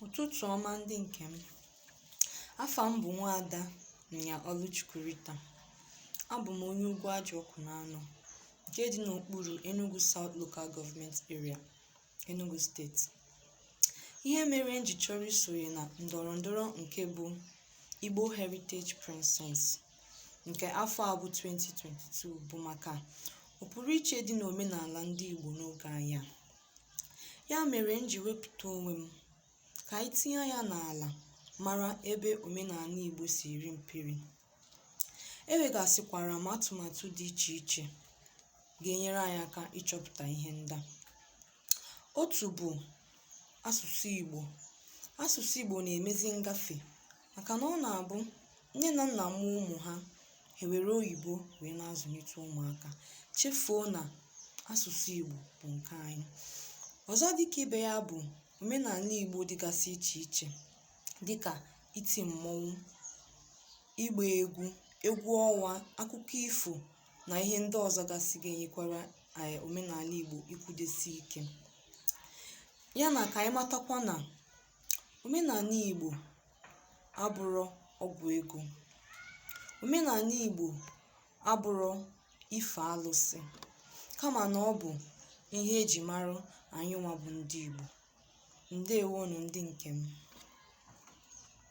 ụtụtụ ọma ndị nke m afa m bụ nwaada nyia ọlụchukwu rita abụ m onye ugwuaji ọkụnanọ nke dị n'okpuru enugu south local government area enugu steeti ihe mere m ji chọrọ isonye na ndọrọ ndọrọ nke bụ igbo heritage princess nke afọ a bụ 2022 bụ maka ọpụrụiche dị n'omenala ndị igbo n'oge anyị a Ya mere m ji wepụta onwe m ka anyị tinye ya n'ala mara ebe omenala Igbo si eri mperi. Enwegasịkwara m atụmatụ dị iche iche ga-enyere anyị aka ịchọpụta ihe ndị a. Otu bụ asụsụ Igbo. Asụsụ Igbo na-emezi ngafe maka na ọ na-abụ nne na nna mụọ ụmụ ha ewere oyibo wee na-azụlite ụmụaka chefuo na asụsụ Igbo bụ nke anyị ọzọ dịka ibe ya bụ omenala Igbo dịgasị iche iche dịka iti mmọnwụ ịgba egwu egwu ọnwa akụkọ ifo na ihe ndị ọzọ gasị ga-enyekwara omenala Igbo ikwudesi ike ya na ka anyị matakwa na Omenala Igbo abụrọ ọgwụ ego. Omenala Igbo abụrọ ife alụsị kama na ọ bụ ihe e ji mara anyịnwa bụ ndị Igbo. Ndeewonụ ndị nke m.